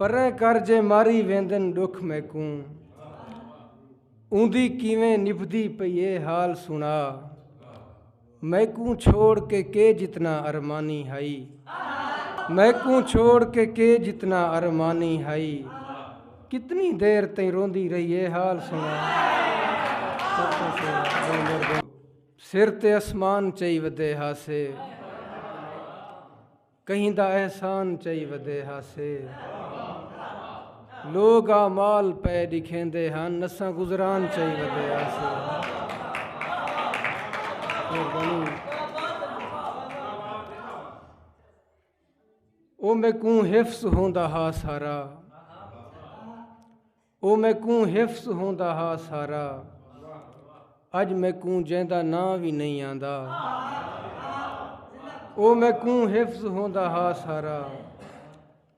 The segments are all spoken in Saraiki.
پریں کر جے ماری ویندن ڈکھ میکوں اوندی کیویں نبھدی پئی اے حال سنڑا میکوں چھوڑ کے کے جتنا ارمانی ہئی میکوں چھوڑ کے کے جتنا ارمانی ہئی کتنی دیر تئیں روندی رہی اے حال سنڑا سر تے اسمان چئی ودے ہاسے کہیں دا احسان چئی ودے ہاسے لوگ آ مال پے ڈکھیندے ہن نساں گزران چئی ودے ہاسے او میں کوں حفظ ہوندا ہا سارا او میکوں حفظ ہوندا ہا سارا اج میکوں جیندا نا وی نہیں آندا او میکوں حفظ ہوندا ہا سارا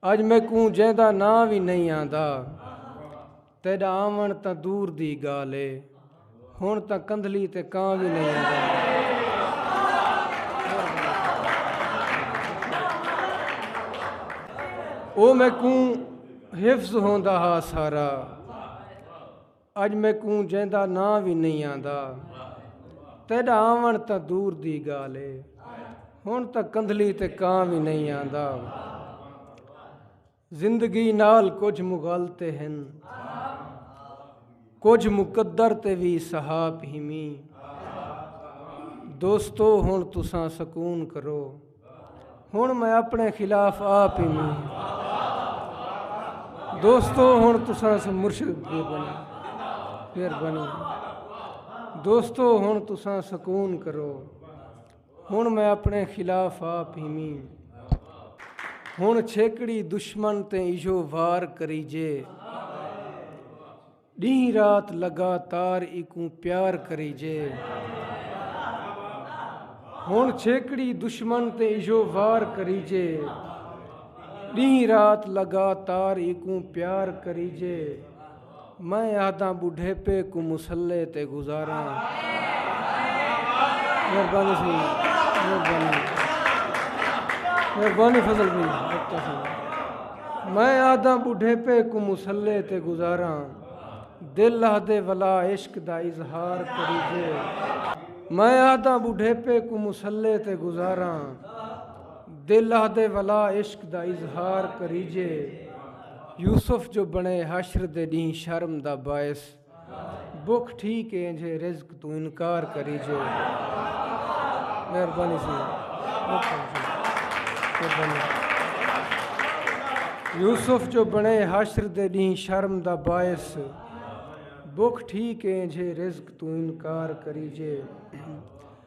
اج میکوں جیندا نا وی نہیں آندا تیڈا آون تاں دور دی گالے ہن تاں کندھلی تے کاں وی نئیں آندا۔ او میکوں حفظ ہوندا ہا سارا۔ اج میکوں جیندا ناں وی نئیں آندا۔ تیڈا آوݨ تاں دور دی ڳالھ اے۔ ہݨ تاں کندھلی تے کاں وی نئیں آندا۔ زندگی نال کجھ مغالطے ہن کجھ مقدر تے وی سہاپ ہیمی دوستو ہن تساں سکون کرو ہن میں اپنے خلاف آپ ہیمی دوستو ہن تساں سے مرشد دے بنی پھر بنی دوستو ہن تساں سکون کرو ہنڑ میں اپنڑے خلاف آ پیویں۔ ہنڑ چھیکڑی دشمن تے ایہو وار کریجے۔ ڈینہہ رات لگاتار ایکوں پیار کریجے۔ ہنڑ چھیکڑی دشمن تے ایہو وار کریجے۔ ڈینہہ رات لگاتار ایکوں پیار کریجے۔ میں آہداں بڈھیپے کو مسلے تے گزاراں مہربانی سی مہربانی مہربانی فضل بھی میں آدھا بڈھے پہ کو مسلے تے گزارا دل آدھے ولا عشق دا اظہار کریجے میں آدھا بڈھے پہ کو مسلے تے گزارا دل آدھے ولا عشق دا اظہار کریجے یوسف جو بݨے حشر دے ݙینہہ شرم دا باعث بکھ ٹھیک اینجھے رزق توں انکار کری جو مہربانی سی یوسف جو بنے حشر دے ڈیں شرم دا باعث بک ٹھیک ہے جے رزق تو انکار کری جے